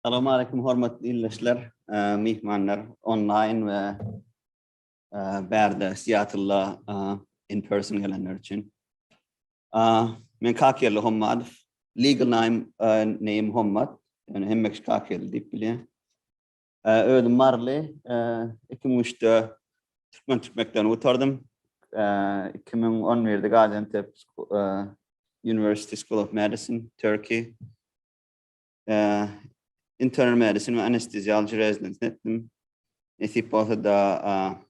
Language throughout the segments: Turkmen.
Salam aleýkum hormatly ildeşler, myhmanlar, onlaýn we bärde Seattle-a in person gelenler üçin. Men Kakýerli Hommadow, legal name name Hommad, ýöne hemme kişi Kakýerli diýip bilýär. Özüm Maryly. Iki müň üçde türkmen tüp mekdebini gutardym. Iki müň on birde Gaziantep University School of Medicine, Turkey. Internal medicine we anestheziology residence etdim. Nesip bolsa da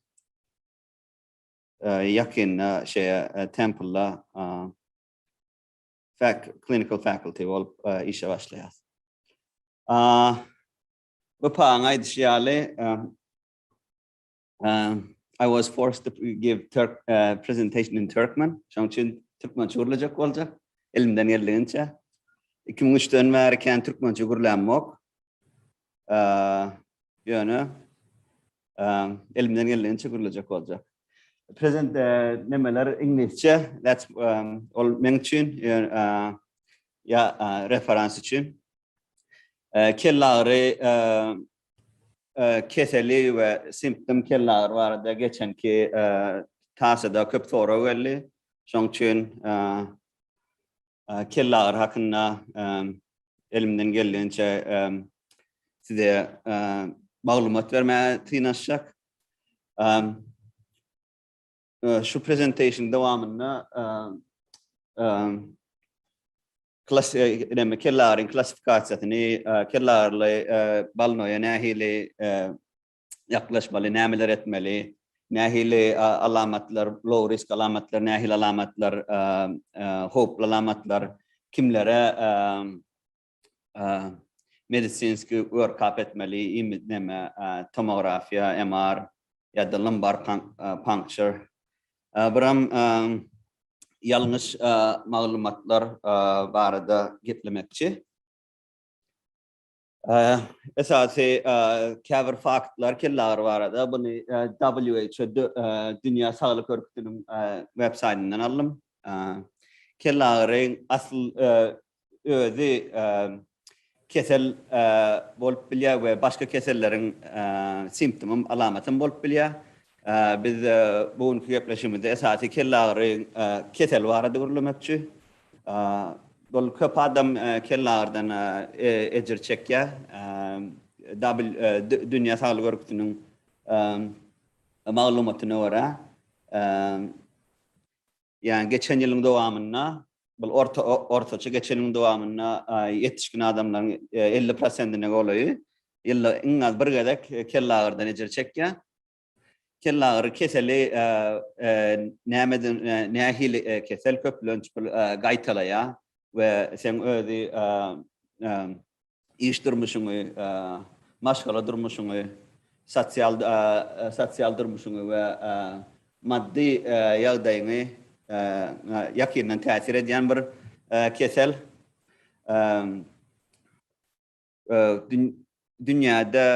yakynda şeye Temple'da fac clinical faculty bolup işe başlayas. Bapaň aýdyşy ýaly, I was forced to give Turk uh, presentation in Turkmen. Şoň üçin türkmençe gürlejek boljak. Elimden geldigiçe. 2003-den bäri kän türkmençe gürlämok. Uh, ýöne um, elimden geldigiçe gürlejek boljak. Present uh, nemeler iňlisçe. That's um, ol men üçin uh, ya uh, referans üçin. Ee, kellagyry e, e, keseli we simptom kellagyry barada geçenki e, tasada köp sorag geldi. Şoň üçin e, e, kellagyry hakynda e, elimden geldigiçe e, size e, maglumat bermäge synanyşjak. E, Şu presentation dowamynda klasifikasyny, kellaryň klassifikasiýasyny, kellarly balnoýa nähili ýaklaşmaly, nämeler etmeli, nähili alamatlar, low risk alamatlar, nähili alamatlar, howply alamatlar, kimlere medisinski work-up etmeli, neme, tomografiýa, MR, ýa-da lumbar puncture. Buram ýalňyş maglumatlar barada geplemekçi. Esasy käbir faktlar kelle agyry barada, buny WHO, Dünýä Saglyk Örgütiniň web-saýtyndan aldym. Kelle agyry asl özi kesel bolup bilýär we başga keselleriň simptomym, alamatym bolup bilýär. Biz bu günki gepleşigimizde esasy kellagyry keseli barada gürlemekçi. Bul köp adam kellagyrydan ejir çekýär. Dünýä saglyk örgütiniň maglumatyna görä, Ýa geçen ýylyň dowamynda, bu orta ortaça geçen ýylyň dowamynda ýetişgin adamlaryň elli prosentine golaýy ýylda iň az bir gezek kellagyrydan ejir çekýär. Kellagyry keseli nämeden nähili kesel köplenç gaýtalaýar we seň özi Iş durmuşyňy, maşgala durmuşyňy, sosial sosial durmuşyňy we maddy ýagdaýyňy ýakyndan täsir edýän bir kesel. Dünýäde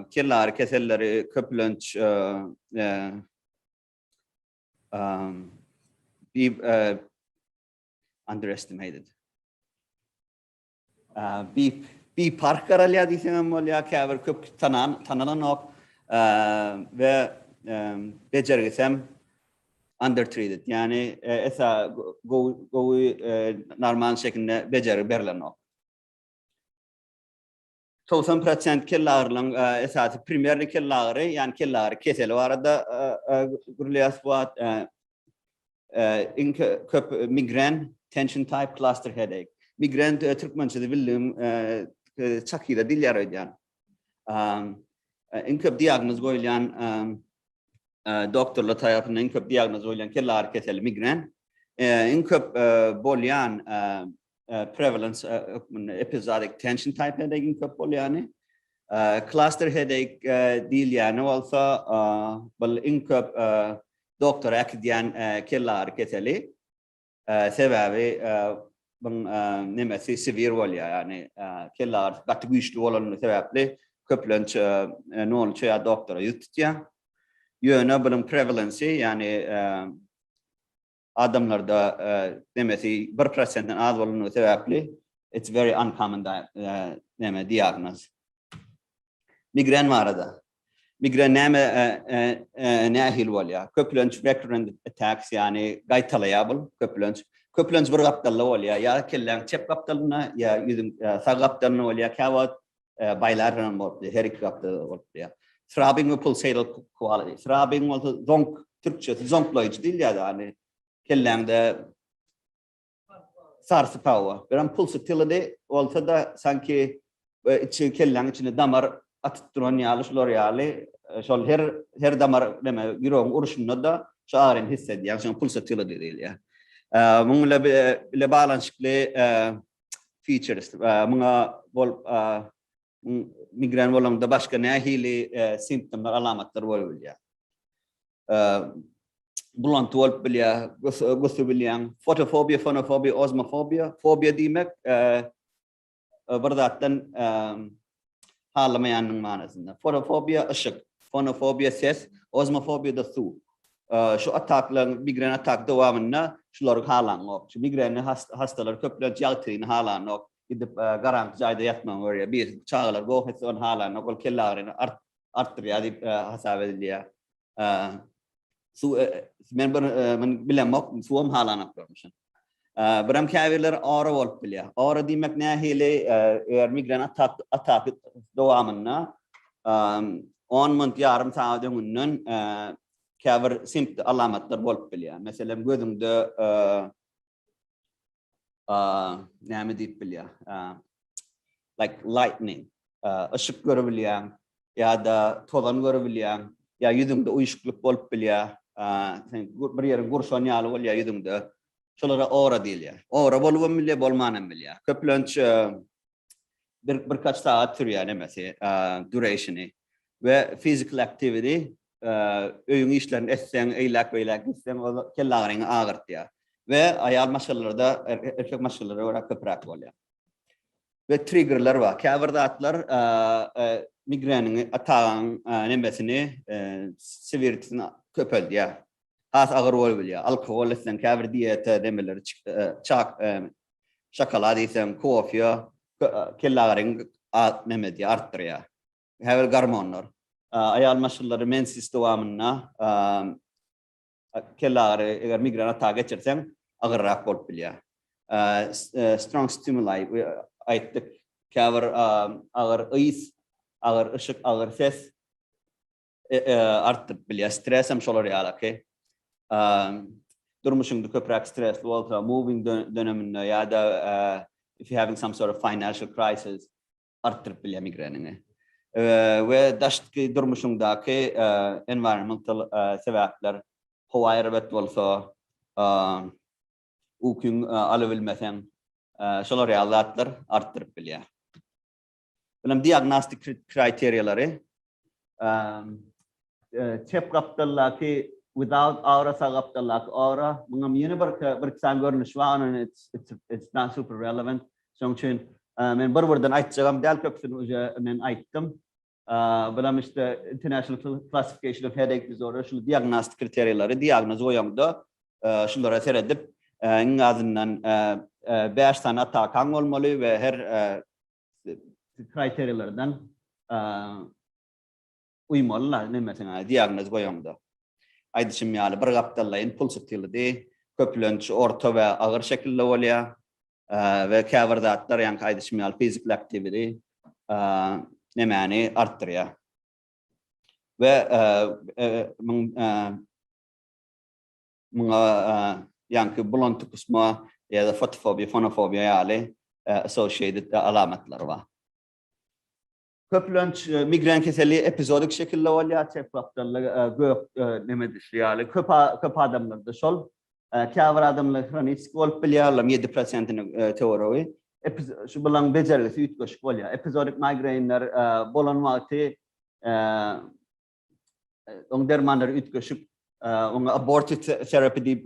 kellary keselleri köplenç underestimated. Bip, bip park garalýar diýseňem bolýar, käbir köp tanan, tanalanok we bejergisem undertreated, ýagny esa gowy, normal şekilde bejergi berlenok. 90 prosent kellagyrylaryň esasy primerni kellagyry, ýani kellagyry keseli barada gürleýäs bu wagt. Iň köp migren, tension type cluster headache. Migren türkmençesi bildim, çakyda dil ýaraýan. Iň köp diagnoz goýulýan doktorlar tarapyndan iň köp diagnoz goýulýan kellagyry keseli migren. Iň köp bolýan prevalence hökmünde epizodik tension type headache köp bolýany. Cluster headache diýilýäni bolsa bu iň köp doktora äkidýän kelle agyry keseli. Sebäbi bu nemesi severe bolýar, ýagny kelle agyry gaty güýçli bolany sebäpli köplenç nolunça ýa doktora ýüz tutýar. Ýöne bunuň prevalence, ýagny adamlarda nemesi bir prosentden az bolunduğu sebäpli it's very uncommon neme diagnoz. Migren barada. Migren neme nähil bolýar? Köplenç recurrent attacks, yani gaýtalaýar bu köplenç. Köplenç bir gapdalda bolýar. Ya kelläň çep gapdalynda, ya ýüzüň sag gapdalynda bolýar. Käwagt bilateral bolupdy, her iki gatda bolupdy. Throbbing we pulsatal quality. Throbbing bolsa zonk, türkçesi zonklaýjy diýilýär, ýagny kelläňde sarsyp hawa. Bilen pulsatility bolsa-da sanki içi kelläň içinde damar atyp duran ýaly, şular ýaly, şol her her damar näme ýüregiň uruşynda-da şu agyryny hiss edýär. Şoňa pulsatility diýilýär. Munuň bile bile baglanyşykly features muňa bol migren bolanda başga nähili simptomlar alamatlar bolup bilýär bulanty bolup bilýär gusu bilýän fotofobiya fonofobiya ozmofobiya fobiya diýmek bir zatdan halamaýandygyň manysynda. Forofobiýa, yşyk, fonofobiýa, ses, ozmofobiýa-da suw. Şu ataklaryň, migren ataky dowamynda şulary halanok. Şu migrenli hassalar köplenç ýagtyny halanok, gidip garaňky jaýda ýatmagy görýär. Birisi çagalar goh etse ony halanok, ol kellagyryny artdyrýar diýip hasap edilýär. Su men bir men bilemok, suwam halanok görmüşim. Biram käbirler ora bolup bilýär. Ora diýmek nähili? Eger migren atak atak dowamynda 10 minut ýarym sagat öňünden käbir simpt alamatlar bolup bilýär. Meselem gözüňde uh, näme diýip bilýär? Uh, like lightning. Uh, ışık görebilýän ya da tozan görebilýän ya ýüzüňde uyuşuklyk bolup bilýär. Uh, sen bir ýeriň gurşan ýaly bolýar ýüzüňde. Şolara aura diýilýär. Aura bolup hem bilýär, bolman hem bilýär. Köplenç uh, bir birkaç saat sürýär nemesi, durationy we physical activity öýüň işlerini etseň, eýläk beýläk gitseň, ol kelle agyryňy agyrtýar. Ve ayal maşgalalarda er, erkek maşgalalara göre köpürak bolýar. Ve triggerler var. Käbir zatlar migrenin atağın nemesini severtisini köpeldýär. Has agyr bolup bilýär. Alkohol etseň, käbir dieta demeleri çak Şokolad iýseň, kofe, kellagyryň nämedi artdyrýar. Käbir gormonlar. Aýal maşgallary mensis dowamynda kellagyry, eger migren ataka geçirseň, agyrrak bolup bilýär. Strong stimuli we aýtdyk, käbir agyr ys, agyr yşyk, agyr ses. E, e, artdyryp bilýär. Stres hem şolar ýalaky. E, durmuşyňda köpräk stresli bolsa, moving döneminde ýa-da if you having some sort of financial crisis artdyryp bilýär migreniňi. We daşky durmuşyňdaky environmental sebäpler howa erbet bolsa, ukyň alybilmeseň, şolar ýaly zatlar artdyryp bilýär. Bilim diagnostik kriteriýalary çep gapdaldaky without aura sag gapdaldaky aura muňam ýene bir bir san görnüşi bar ony it's not super relevant şoň üçin men bir birden aýtjagam däl köpüsini uje men aýtdym bilim işte international classification of headache disorder şu diagnostik kriteriýalary diagnoz goýanda şulara seredip iň azyndan 5 sany atakaň bolmaly we her kriteriýalardan uýmaly-la, nemesiňe diagnoz goýaňda. Aýdyşym ýaly, bir gapdallaýyn pul sytylydy, köplenç orta we agyr şekilde bolýar we käbir zatlar, ýaňky aýdyşym ýaly, fiziki aktiwidi, nemäni artdyrýar. We Muňa ýaňky bulanty gusma ýa-da fotofobiýa, fonofobiýa ýaly associated alamatlary bar. Köplenç migren keseli epizodik şekilde bolýar, çepgapdalda gök neme düşli ýaly. Köp adamlarda şol. Käbir adamlar hroniki bolup bilýär, olaryň ýedi prosentiniň töweregiň. Şu bularyň bejergisi üýtgeşik bolýar. Epizodik migrainler bolan wagty Oň dermanlary üýtgeşik, oňa abortive terapi diýip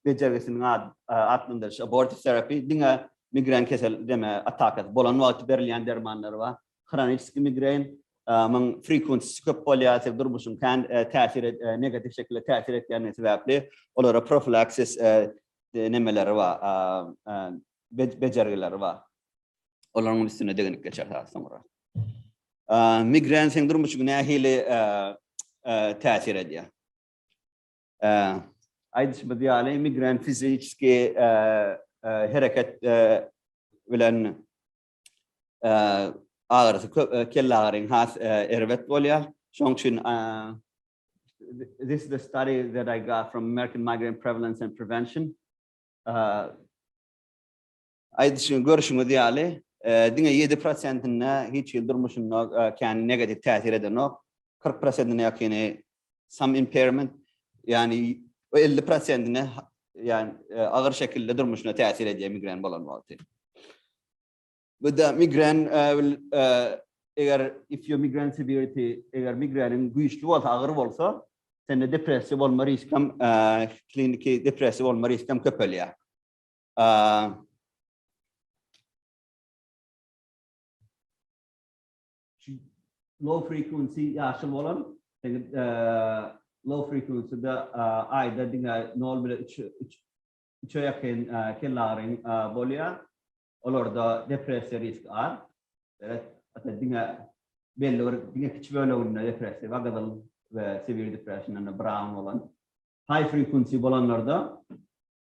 bejergisiniň ady atlandyryş. Abortive terapi diňe migren kesel deme atakasy bolan wagty berilýän dermanlar bar. Hroniki migren, muň frequency köp bolýar, siz durmuşyň kän täsir negativ şekilde täsir etýändigi sebäpli olara profilaksis nemeleri bar, bejergileri bar. olaryň üstüne degenip geçer has soňra. Migren sendromy üçin nähili täsir edýär? Aýdyşymyz ýaly, migren fiziki hereket bilen agyrysy köp, kelle agyryň has erbet bolýar. Şoň üçin this is the study that I got from American Migraine Prevalence and Prevention. Aýdyşyň, görşüňiz ýaly, diňe ýedi prosentinde hiç hili durmuşynda kän negatiw täsir edenok. Kyrk prosentine ýakyny some impairment, ýagny we elli prosentine ýagny agyr şekilde durmuşyna täsir edýär migren bolan wagty. Bu da migren eger if your migren severity eger migreniň güýçli bolsa, agyr bolsa, sende depressiýa bolma risk hem kliniki depressiýa bolma risk hem köpelýär. Low frequency ýaşyl bolan, indi low frequency-de aýda diňe 0 bilen 3, 3, 3-e ýakyn kellaryň bolýar. Olarda depressiýa riski az. Belet, hatda diňe belli bir diňe kiçi böleginde depressiýa bar, gyzyl we severe depression-da brown bolan. High frequency bolanlarda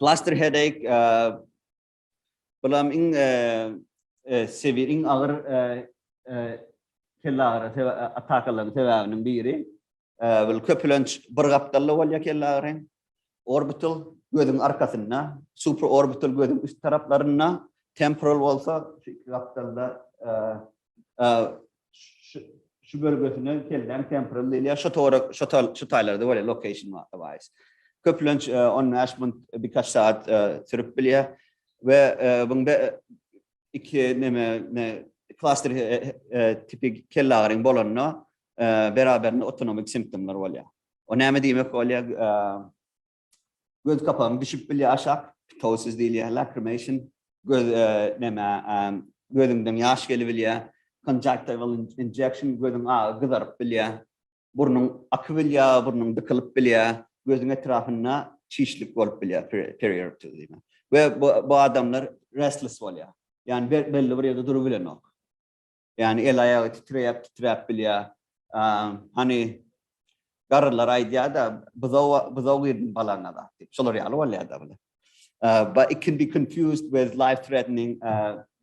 Cluster headache bulam iň sebir, iň agyr kelle agyry atakalaryň sebäbiniň biri. Bul köplenç bir gapdalda bolýar kelle agyry. Orbital gözüň arkasynda, supraorbital gözüň üst taraplarynda, temporal bolsa iki gapdalda şu bölgesine kelläň temporal diýilýär. Şu tora şu şu taýlarda bolýar location wise. Köplenç 15 minut bir kaç saat sürüp bilýär we bunda iki neme ne klaster tipi kellaryň bolanda beraberinde otonomik simptomlar bolýar. O näme diýmek bolýar? Göz kapagyň düşüp bilýär aşak, ptosis diýilýär, lacrimation, göz näme, gözüňden ýaş gelibilýär, conjunctival injection, gözüň agy gyzaryp bilýär, burnuň akyp bilýär, burnuň dykylyp bilýär, gözüň etrapynda çişlik bolup bilýär, periorptiz diýmek. We bu adamlar restless bolýar. Ýagny belli bir ýerde durup bilenok. Ýani el-aýagy titreýäp-titräp bilýär. Hany garrylar aýdýar-da, Buzag, buzag girdim balaňa zat diýip. Şolar ýaly bolýar-da bular. But it can be confused with life threatening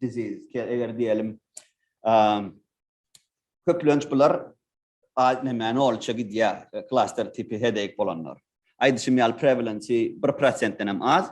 disease. Eger diýelim, köplenç bular näme nolça gidýär, klaster tipi headache bolanlar. Aýdyşym ýaly prevalence 1%-den hem az.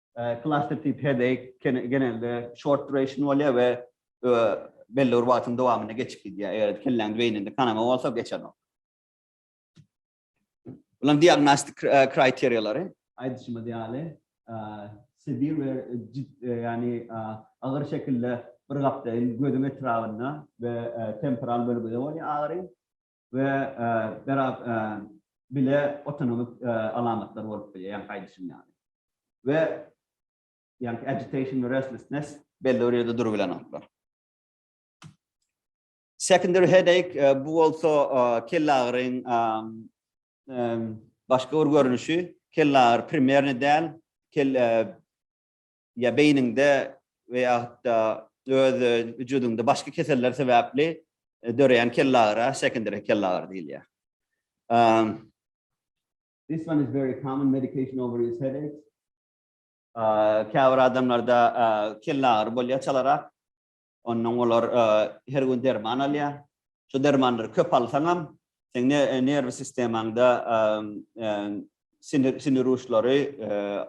Cluster tip headache genelde short duration bolýar we belli bir wagtyň dowamynda geçip gidýär. Eger kelläňiň beýninde kanama bolsa geçenok. Bulan diagnostik kriteriýalary aýdyşymyz ýaly severe we ýagny agyr şekilde bir gapdaýyn gözüň etrabynda we temporal bölgüde bolýar agyry. we biraz bile otonomik alamatlar bolup bilýär, ýagny gaýdyşyn ýaly. We ýagny agitation we restlessness belli bir ýerde durup bilenoklar. Secondary headache bu bolsa kellagyryň başga bir görnüşi, kellagyry primerni däl, kelle ýa beýniňde we ýa-da öz wüjudyňda başga keseller sebäpli döreýän kellagyra sekondary kellagyry diýilýär. This one is very common medication over is headache. Käbir adamlarda kellagyry bolýar çalarak. Ondan olar her gün derman alýar. Şu dermanlary köp alsaňam, seň nerw sistemaňda sinir uçlary,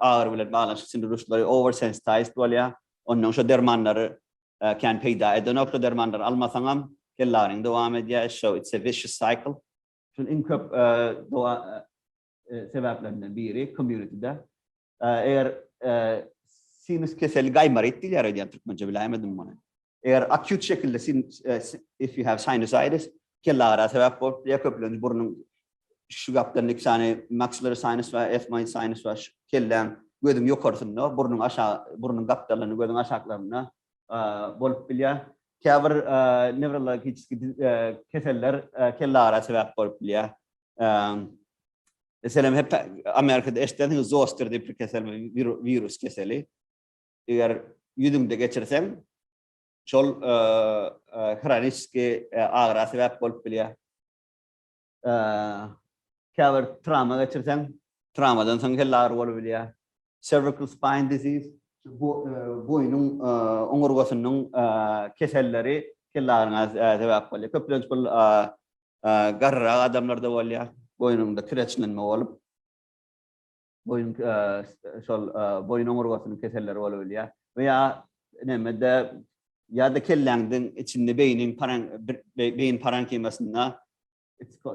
agyry bilen baglanyşykly sinir uçlary oversensitized bolýar. Ondan şu dermanlary kän peýda edenok. Şu dermanlary almasaňam, kellagyryň dowam edýär. So it's a vicious cycle. Şunuň iň köp sebäplerinden biri community-de Eger sinus keseli gaýmaryt diýilýär aýdýan türkmençe biläýmedim muny. Eger akýut şekilde if you have sinusitis kellagyra sebäp bolup biler köplenç burnuň şu gaplarynda iki sany maxillary sinus we ethmoid sinus we kelläň gözüň ýokarsynda burnuň aşagy burnuň gapdalynda gözüň aşaklarynda bolup bilýär. Käbir newrologiki keseller kellagyra sebäp bolup bilýär. Meselem, hep Amerikada eşidensiňiz zoster diýip bir kesel, virus keseli. Eger ýüzüňde geçirseň, şol hroniki agyra sebäp bolup bilýär. Käbir trawma geçirseň, trawmadan soň kelle agyry bolup bilýär. Cervical spine disease, boýnuň oňurgasynyň keselleri kelle agyryna sebäp bolýar. Köplenç bu Garryrak adamlarda bolýa, boýnuňda kireçlenme bolup, boýun şol boýun oňurgasynyň keselleri bolubilýä we ýa nemede ýa-da kelläňdiň içinde beýniň beýin parenkimasynda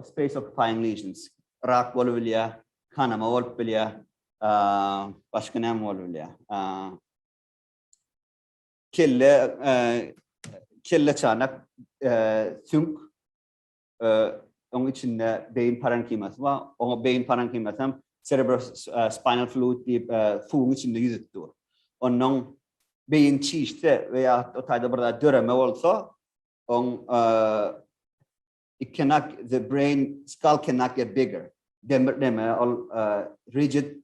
space occupying lesions rak bolubilýä, kanama bolup bilýä, başga näme bolubilýä. Kelle kelle çanak süňk oň içinde beýin parenkimasy bar. Oňa beýin parenkimasy hem cerebrospinal fluid diýip suwuň içinde ýüzüp dur. Ondan beýin çişse we ýa o taýda bir zat döreme bolsa, oň it cannot the brain skull cannot get bigger. Demir deme ol rigid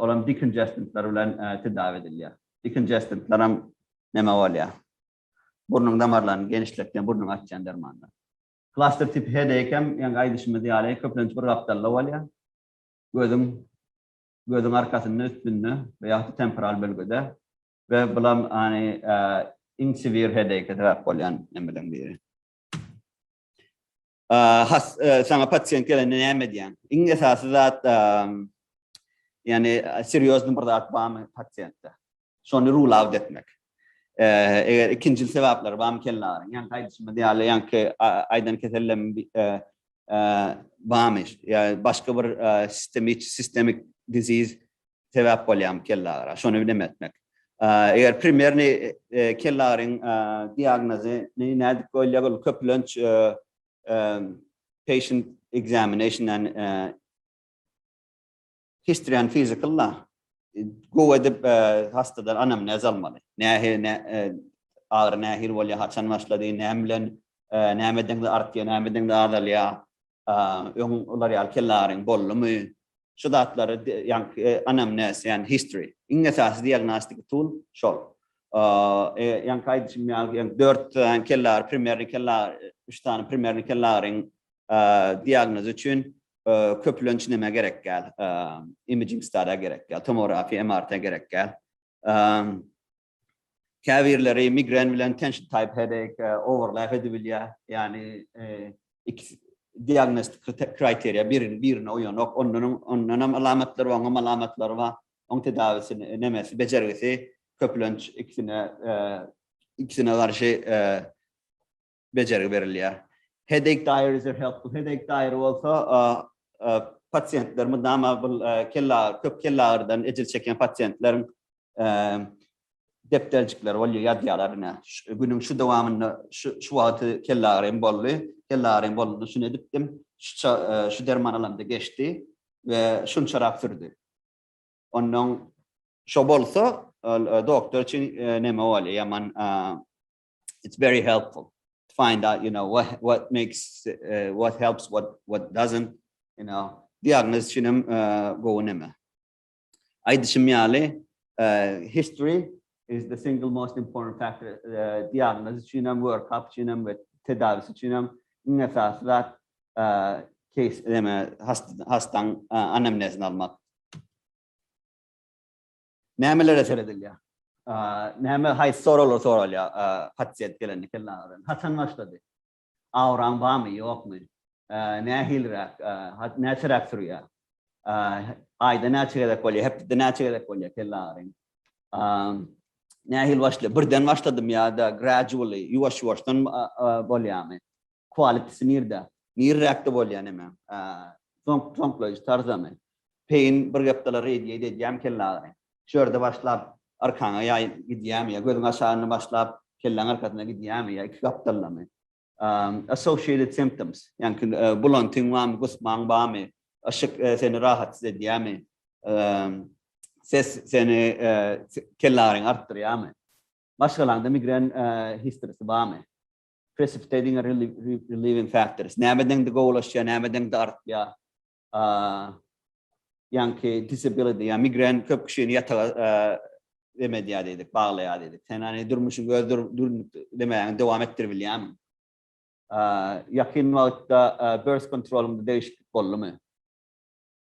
Ol hem diknjestentler bilen tedawi edilýär. Diknjestentler hem näme bolýar? Burnuň damarlaryny genişletýän, burnuňy açýan dermanlar. Klaster tipi headache hem ýaňky aýdyşymyz ýaly köplenç bir gapdalda bolýar. Gözüň gözüň arkasynda, üstünde we ýa-da temporal bölgede we bulam any iň severe headache sebäp bolýan nemeleň biri. has saňa pasient gelende näme edýäň? Iň esasy zat ýani serýozny bir zat barmy pasientde? Şony rule out etmek. Eger ikinjil sebäpleri barmy kelle agyryň? Ýani gaýdyşymyz ýaly ýanky aýdan kesellem barmy? Ýa başga bir sistemik disease Sebäp bolýarmy kellagyra? Şony bilem etmek. Eger primerni kellagryň diagnozy nädip goýulýar? Ol köplenç patient examination-dan history and physical-la gowy edip hastadan anamnez almaly. Nähili ne agyry nähili bolýar, haçan başlady, näme bilen, nämeden artýar, nämeden azalýar? öň olar ýaly kellaryň boldumy, şu zatlary ýaňky anamnes, ýagny history. Iň esasy diagnostic tool şol. Ýaňky aýdyşym ýaly, ýagny dört sany kellar, primerni kellar, üç sany primerni kellaryň diagnozy üçin köplenç näme gerek däl? Imaging study gerek däl, tomografiýa, MRT gerek däl. Käbirleri migren bilen tension type headache overlap edibilýär. Ýagny iki diagnostik kriteriýa birini birine uýanok. Ondan ondanam alamatlar oňam alamatlary bar. Oň tedawisi nemesi bejergisi köplenç ikisine ikisine garşy bejergi berilýär. Headache diary is a helpful headache diary bolsa pasiýentler mydama bu kelle köp kelle agyrydan ejir çekýän pasiýentleriň depderjikleri bolýar, ýazýarlar ine. Günüň şu dowamynda şu şu wagty kelle agyrym boldy. Kelle agyrym bolanda şuny edipdim. Şu şu derman alamda geçdi we şunçarak sürdi. Ondan şo bolsa doktor üçin neme bolýar, ýaman it's very helpful to find out, you know, what what makes uh, what helps, what what doesn't, you know. Diagnoz üçin hem uh, gowy näme. Aýdyşym ýaly, uh, history is the single most important factor. Uh, diagnoz üçin hem, workup üçin hem we tedawisi üçin hem iň esasy zat uh, case näme hastaň uh, anamnezini almak. Nämelere seredilýär? Näme haýsy soraglar soralýar pasient gelende kellaňyzdan? Haçan başlady? Awraň barmy, ýokmy? Nähiliräk, näçeräk sürýär? Aýda näçe gezek bolýar, hepdede näçe gezek bolýar kelle agyryň? Nähili başlaýar? Birden başladymy ýa-da gradually, ýuwaş-ýuwaşdan bolýarmy? Quality-si nirde? Nirräkde bolýa neme? Soňky soňklaýyş tarzany. Peýin bir gepdala reýdýeýdi edýämi kellagyny? Şu ýerde başlap arkaňa ýaý gidýämi ýa gözüň aşagynda başlap kelläň arkasyna gidýämi ýa iki gapdaldamy? Associated symptoms, ýaňky bulantyň bamy, gusmaň bamy, yşyk seni rahatsyz edýämi? Ses seni kellagyny artdyrýamy? Maşgalaňda migren history-si bamy? Precipitating and relieving factors. Näme deňde gowulaşýar, näme deňde artýar. Ýaňky disability, ýa migren köp kişini ýataga deme edýär diýdik, baglaýar diýdik. Sen hani durmuşyň öz demäňi dowam etdirip bilýärmi? Ýakyn wagtda birth kontrolunda degişiklik boldumy?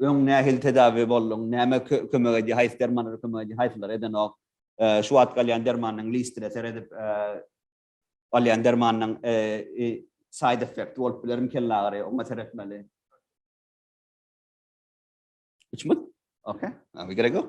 Öň nähili tedawi bolduň? Näme kömek edýär? Haýsy dermanlar kömek edýär? Haýsylary edenok? Şu wagtky alýan dermanynyň listine seredip, alýan dermanynyň side effekti bolup bilermi? Kellagyry, oňa seretmeli. Üç mut? Okey. Gerek ýok.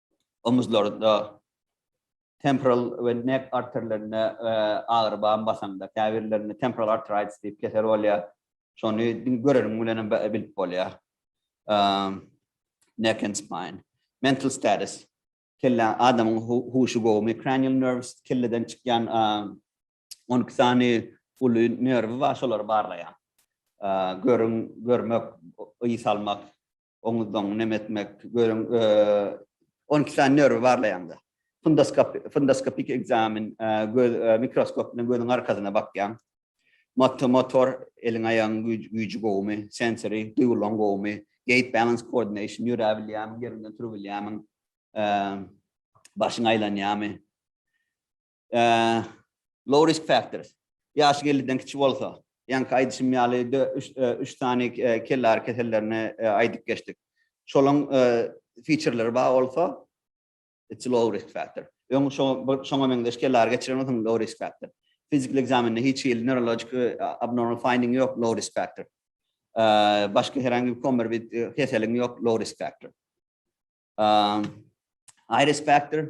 omuzlarda temporal we neck arterlerinde agyry bar basanda, käbirlerinde temporal arteritis diýip kesel bolýar. Şony göreniň bilen hem bilip bolýar. Neck and spine. Mental status. Kelle adamyň huşy gowumy? Cranial nerves kelleden çykýan 12 sany uly nerwi bar, şolary barlaýar. Görüň, görmek, ysalmak, oňuzdan nem etmek, görüň, e, 12 sany nerwi barlaýanda. Fundoskop, fundoskopik ekzamen, e, göz e, mikroskop bilen gözüň arkasyna bakýan. Motor, motor eliň aýagyň güýji, güýji gowumy, sensory duýgularyň gowumy, gait balance coordination ýöre bilýämiň, ýerinden turup bilýämiň, e, başyň aýlanýamy. Low risk factors. Ýaşy elliden kiçi bolsa. Ýaňky aýdyşym ýaly üç sany kellagyry kesellerini aýdyp geçdik. Şolaň featureleri bar bolsa, it's a low risk factor. Öň şoňa meňzeş kellagyry geçiren bolsaň, low risk factor. Fizikli ekzamende hiç hili neurologik abnormal finding ýok, low risk factor. Başga her hangi bir komorbid keseliň ýok, low risk factor. High risk factor.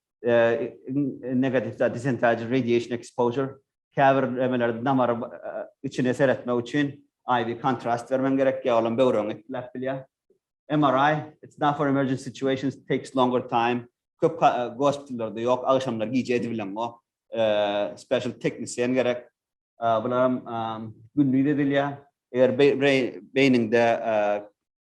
negative da disentage radiation exposure käbir emelerde damar içine seretmek üçin IV kontrast bermen gerek ýa olam böwregiňi etkiläp bilýär. MRI it's not for emergency situations it takes longer time köp gospitallarda ýok agşamlar gije edibileňok special teknisiýen gerek bularam gündiz edilýär eger beýniňde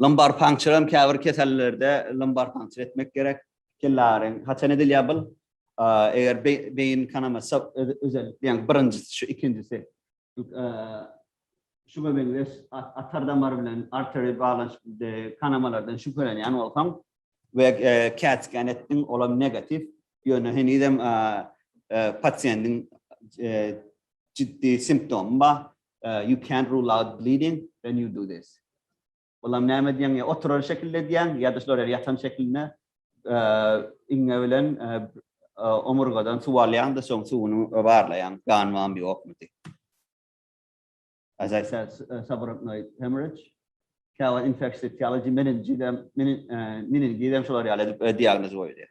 Lumbar puncture hem käbir kesellerde lumbar puncture etmek gerek. Kellaryň haçan edilýär bul? Eger beýin kanamasy özellikle ýaňy birinjisi şu ikinjisi şuňa meňzeş atar damar bilen artery baglanyşykly kanamalardan şübhelenýän bolsaň we CAT scan etdiň, olam negatiw, ýöne henizem pasiýentiň ciddi simptomy bar, Uh, you can't rule out bleeding when you do this. Bulam näme diýen ýa oturan şekilde diýen ýa-da şolar ýatan şekilde iňňe bilen omurgadan suw alýan-da soň suwuny barlaýan, gan barmy ýokmy diýip. As I said, subarachnoid hemorrhage, käwa infeksiýa teology meningizem, meningizem şolar ýaly edip diagnoz goýulýar.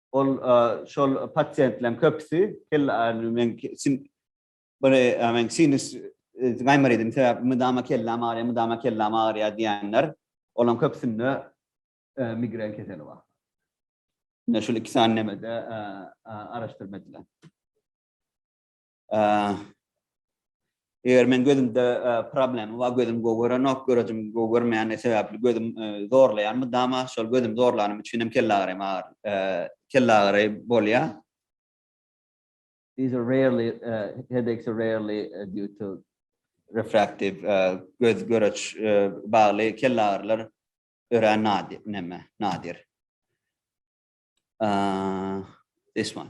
Ol şol pasiýentleriň köpüsi kelle aýrylyp men sin bir men sinus gaýmar edim sebäp mydama kelläm agyrýar, mydama kelläm agyrýar diýenler. Olaryň köpüsinde migren keseli bar. Ine şol iki sany nemede araşdyrma edilen. Eger men gözümde problemi bar, gözüm gowy görenok, görejim gowy görmeýäni sebäpli gözüm zorlaýan mydama, şol gözüm zorlanym üçin hem kelle agyry agyr, kelle agyry bolýa. These are rarely, headaches are rarely due to refractive, göz göreç bagly kelle agyrylar örän nadir, näme, nadir. This one.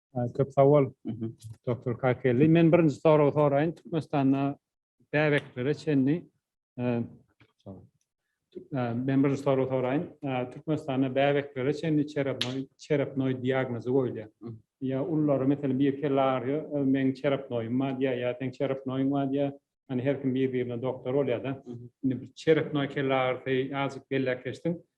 Ee, Köp sag bol, Mhm. doktor Kakelli. Men birinji soragy soraýyn. Türkmenistanda bäbeklere çenli e, sag bol. Tü- e, men birinji soragy soraýyn. E, Türkmenistanda bäbeklere çenli çerapnoý çerapnoý diagnozy goýulýar. Mhm. Ýa ullary meselem bir kelle agyrýar, e, meň çerapnoýum bar diýýär, ýa seň çerapnoýuň bar diýýär. Hani her kim bir birine doktor bolýar-da. Mhm. Indi bir çerapnoý kelle agyrysy azajyk belläp geçdiň.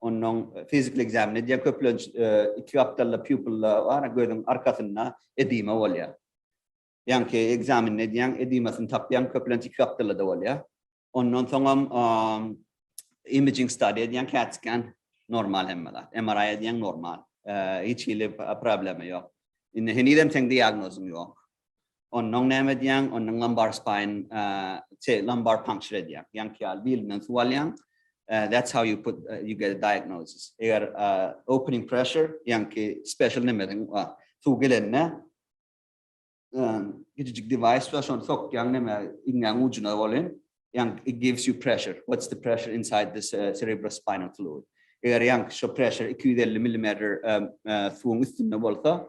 Ondan fizikli ekzamen edýär. Köplenç iki gapdalda pupilla bar, gözüň arkasynda edima bolýar. Ýaňky ekzameni edýäň, edimasyny tapýaň, köplenç iki gapdalda bolýar. Ondan soňam imaging study edýäň, cat scan normal hemme zat. MRI edýäň normal. Hiç hili problema ýok. Indi henizem seň diagnozyň ýok. Onnoň näme edýäň? Onnoň lumbar spine, şey, lumbar puncture edýäň. Ýaňky ýaly bilinden suw alýaň. That's how you put, you get a diagnosis. Eger opening pressure, ýaňky special nemesiň bar. Suw gelende, kiçijik device bar, şony sokýaň neme, iňňäň ujuna welin, ýaňky it gives you pressure. What's the pressure inside this cerebrospinal fluid? Eger ýaňky şo pressure 250 millimeter suwuň üstünde bolsa,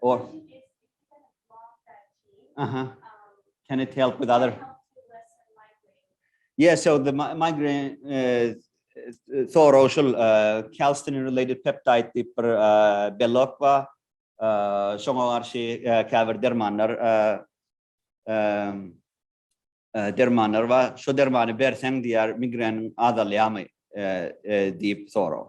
Or. Uh huh. Can it help with other? Yeah, so the migraine uh, thoroşul uh, calcitonin related peptide diýip bir uh, belok bar. Uh, şoňa garşy uh, käbir dermanlar uh, um, uh, dermanlar bar. Şu dermany berseň diýer migreniň azalýarmy uh, uh, diýip sorag.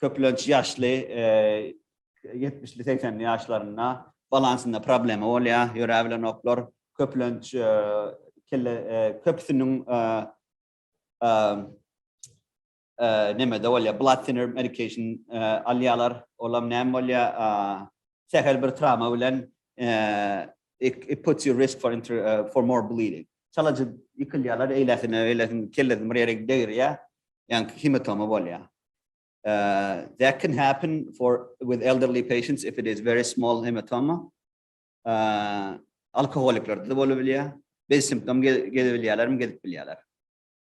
Köplenç ýaşly, ýetmişli, segsenli ýaşlarynda balansynda problema bolýar, ýöräbilenoklar. Köplenç kelle köpüsiniň nemede bolýar, blood thinner medication alýarlar. Olam näme bolýar? Sähel bir trawma bilen it puts you risk for for more bleeding. Çalajy ýykylýarlar, eýlesine, eýlesine kellesini bir ýere degirýär. Ýani hematoma bolýar. That can happen for with elderly patients if it is very small hematoma. Alkoholiklerde de bolup bilýär. Biz simptom gezip bilýärlermi? Gezip bilýärler.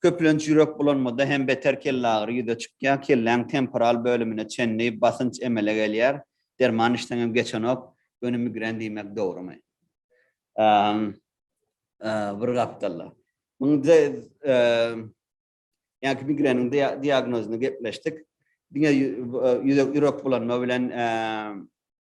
Köplenç ýürek bulanmada hem beter kellagyry ýüze çykýar, kelläň temporal bölümine çenli basynç emele gelýär. Derman içseňem geçenok, göni migren diýmek dogrumy? Bir gapdalda. Ýaňky migreniň diagnozyny gepleşdik. Diňe ýürek bulanma bilen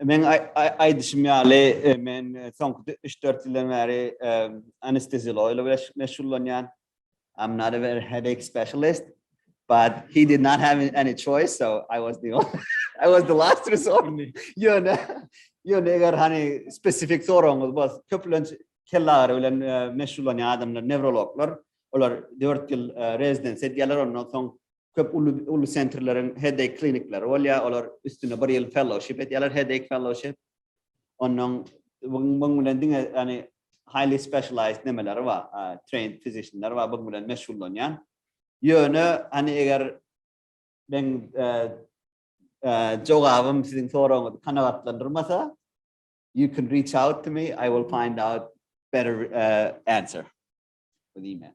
Men aýdyşym ýaly, men soňky üç-dört ýyldan bäri anesteziologiýa bilen meşgullanýan. I'm not a very headache specialist, but he did not have any choice, so I was the only, I was the last resort. Ýöne, ýöne eger hani spesifik soragyňyz bolsa, köplenç kelle agyry bilen meşgullanýan adamlar, newrologlar, olar 4 ýyl rezidensiýa edýärler, ondan soň köp uly uly sentrleriň headache klinikleri bolýar, olar üstüne bir ýyl fellowship edýärler, headache fellowship. Ondan buň bilen diňe ýani highly specialized nemeleri bar, trained physicianlar bar, buň bilen meşgullanýan. Ýöne hani eger men e, e, jogabym siziň soragyňyzy kanagatlandyrmasa, you can reach out to me, I will find out better uh, answer with email.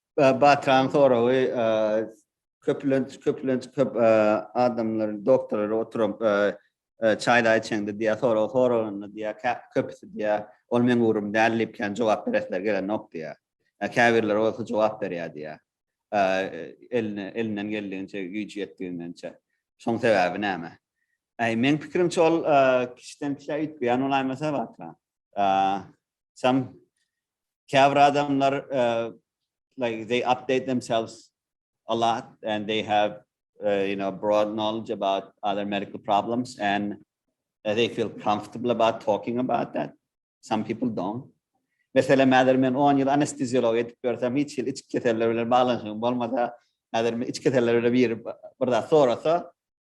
Batyraň soragy köplenç köplenç köp adamlar doktorlar oturup çaýlar içeňde diýä sorag soralanda diýä köpüsi diýä ol meň ugrum däl diýip kän jogap beresleri gelenok diýä. Käbirleri bolsa jogap berýär diýä. Eline elinden geldigiçe güýji ýetdigiçe. Şoň sebäbi näme? Äý meň pikirimçe ol kişiden kişä üýtgeýän bolaýmasa Batyraň. Sam Käbir adamlar uh, like they update themselves a lot and they have uh, you know broad knowledge about other medical problems and uh, they feel comfortable about talking about that. Some people don't. Mesela mädir men 10 ýyl anesteziolog edip görsem hiç ýyl içki keseller bilen baglanşygym bolmasa, mädir men içki keseller bilen bir bir zat sorasa,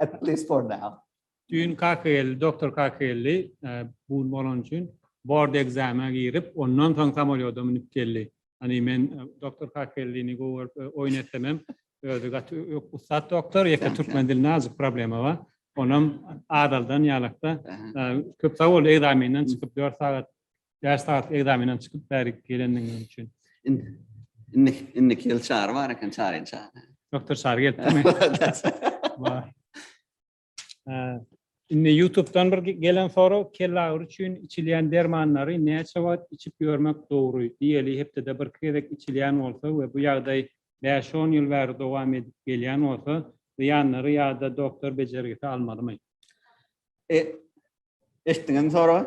At least for now. Düýn kaka geldi, doktor kaka geldi. Bu gün bolany üçin bord ekzamene girip, ondan soň samolýoda münüp geldi. Hany men doktor kaka geldini gowy görüp oýun etsemem, özi gaty ussat doktor, ýeke türkmen dilinde azajyk problema bar. Onam azaldan ýalakda köp sag bol, ekzamenden çykyp dört sagat Bäş sagatlyk ekzamenden çykyp bärik gelendigiňiz üçin. Indi indi indiki ýyl çary bar eken, çaryny çar. Doktor Çary gelipmi? Bar. Ee, Indi YouTube'dan bir ge- gelen soru kelle agyry üçin içilýän dermanlary näçe wagt içip ýörmek dogry? Diýeli hepdede bir gezek içilýän bolsa we bu ýagdaý 5-10 ýyl bäri dowam edip gelýän bolsa, zyýanlary ýa-da doktor bejergisi almalymy? E, eşitdiňizmi soragy?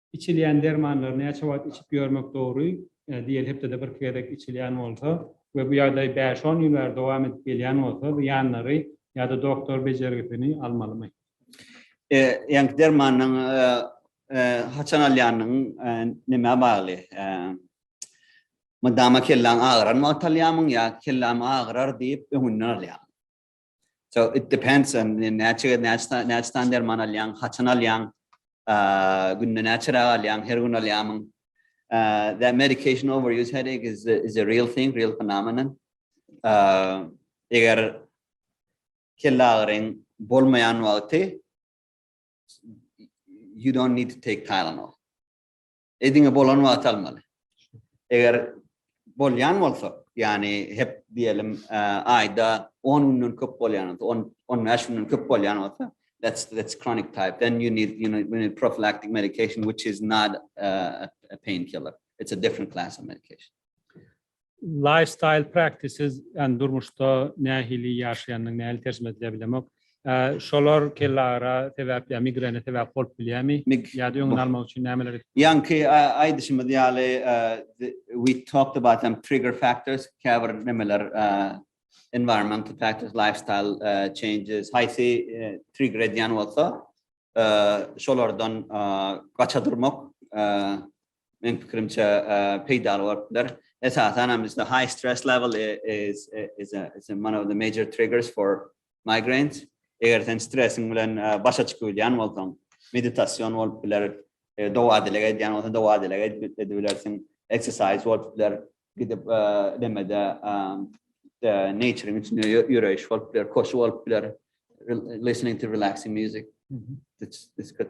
Içilýän dermanlary näçe wagt içip ýörmek dogry? Diýeli hepdede bir iki gezek içilýän bolsa we bu ýagdaý bäş-on ýyl bäri dowam edip gelýän bolsa, zyýanlary ýa-da doktor bejergisini almalymy? Ýaňky dermanyň haçan alýanyň nämä bagly? Mydama kellaň agyran wagt alýarmyň ýa kelläm agyrar diýip öňünden alýarmyň? So it depends on näçe näçe näçe san derman alýaň, haçan alýaň, günde näçe rak alýaň, her gün alýamyň. That medication overuse headache is a, is a real thing, real phenomenon. Eger kelle agyryň bolmaýan wagty you don't need to take Tylenol. E diňe bolan wagty almaly. Eger bolýan bolsa, ýagny hep diýelim, e, aýda 10 günden köp bolýan bolsa, 10 15 günden köp bolýan bolsa, that's that's chronic type. Then you need you need, you need prophylactic medication which is not uh, a painkiller. It's a different class of medication. Lifestyle practices, ýagny durmuşda nähili ýaşaýandygyny nähili terjime edilýär bilemok. Şolar kellagyra sebäp ýa migrene sebäp bolup bilýärmi? Ýa-da öňüni almak üçin nämeler edip bileris? Ýaňky aýdyşymyz ýaly, we talked about some trigger factors, käbir nämeler, environmental factors, lifestyle changes, haýsy trigger edýän bolsa, şolardan gaça durmak, Men pikirimçe peýdaly bolup biler. Esasan hem bizde high stress level is is a is one of the major triggers for migraines. Eger sen stresiň bilen başa çykyp bilýän bolsaň, meditasion bolup biler, dowadylyk edýän bolsaň, dowadylyk edip bilersiň, exercise bolup biler, gidip demede natureň içinde ýöreýiş bolup biler, koşu bolup biler, listening to relaxing music. This could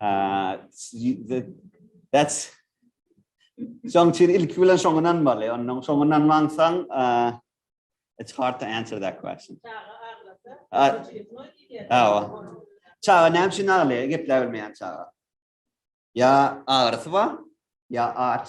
Uh, that's Şoň üçin ilki bilen şoňa inanmaly. Ondan şoňa inanmansaň, uh, it's hard to answer that question. Awa. Çaga näme üçin aglaýar? Gepläp bilmeýän çaga. Ya agyrysy bar, ya aç.